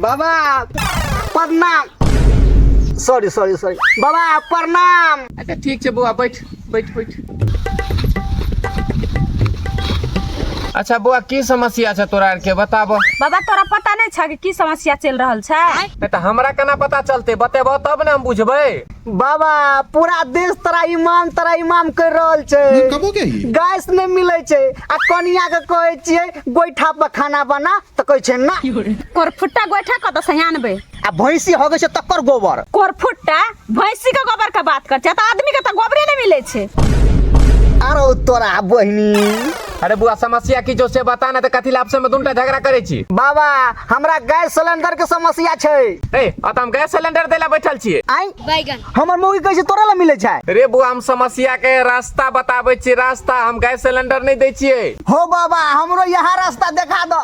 बाबा प्रणाम sorry sorry sorry बाबा प्रणाम अच्छा ठीक छै बौआ बैठ बैठ बैठ अच्छा बौआ की समस्या छै तोरा आरके बताबऽ बाबा तोरा पता नहीं छा कि की समस्या चल रहल छै नहि तऽ हमरा केना पता चलतै बतेबऽ तब ने हम बुझबै बाबा पूरा देश तोरा इमाम तोरा इमाम कर रहल छै कब हो गया ये गैस नहि मिलै छै आ कनिया के कहै छियै गोइठा पर खाना बना तऽ कहै छै ना कोरफुट्टा गोइठा कतऽ से आनबै आ भैंसी हो गई छै तकर गोबर कोरफुट्टा भैंसी के गोबर के बात कर छै तऽ आदमी के तऽ गोबरे नहि मिलै छै आरो तोरा बहिनी अरे बुआ समस्या की जो से बता ना तो कथी लाभ से में दुनटा झगड़ा करे छी बाबा हमरा गैस सिलेंडर के समस्या छै ए अत हम गैस सिलेंडर देला बैठल छिए आई बैगन हमर मौगी कैसे तोरा ला मिले छै रे बुआ हम समस्या के रास्ता बताबै छी रास्ता हम गैस सिलेंडर नहीं दै छिए हो बाबा हमरो यहाँ रास्ता देखा दो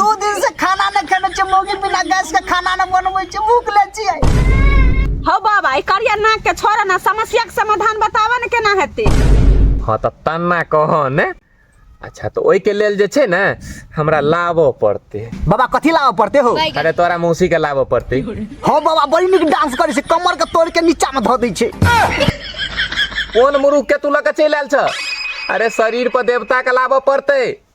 दू दिन से खाना नहि खेने छियै मौगी बिना गैस के खाना नहि बनबै छियै भूख ले छियै हौ बाबा ई करिया नाक के छोड़ ना समस्या के समाधान बताबऽ ने केना हेतै हँ तऽ तन्ना कह ने अच्छा तऽ ओहिके लेल जे छै ने हमरा लाबऽ पड़तै बाबा कथी लाबऽ पड़ते हो अरे तोरा मौसी के लाबऽ पड़तै हँ बाबा बड़ी नीक डांस करै छै कमर के तोड़ के नीचा में धऽ दै छै कोन मुरुख के तू लऽ के चलि आयल छ अरे शरीर पर देवता के लाबऽ पड़तै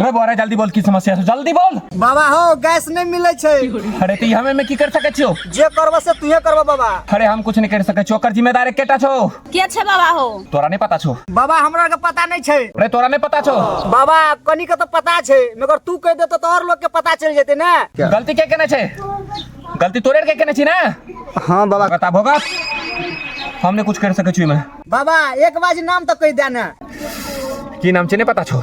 रे बोरा जल्दी बोल की समस्या छै जल्दी बोल बाबा हो गैस नहीं मिले छै अरे ती हमें में की कर सके छियो जे करबो से तुहे करबो बाबा अरे हम कुछ नहीं कर सके छियो ओकर जिम्मेदारी केटा छो के छै बाबा हो तोरा नहीं पता छो बाबा हमरा के पता नहीं छै अरे तोरा नहीं पता छो बाबा कनी के तो पता छै मगर तू कह दे तो और लोग के पता चल जेते ना गलती के केने छै गलती तोरे के केने छी ना हां बाबा बता भोगा हमने कुछ कर सके छी मैं बाबा एक बाजी नाम तो कह देना की नाम छै नहीं पता छो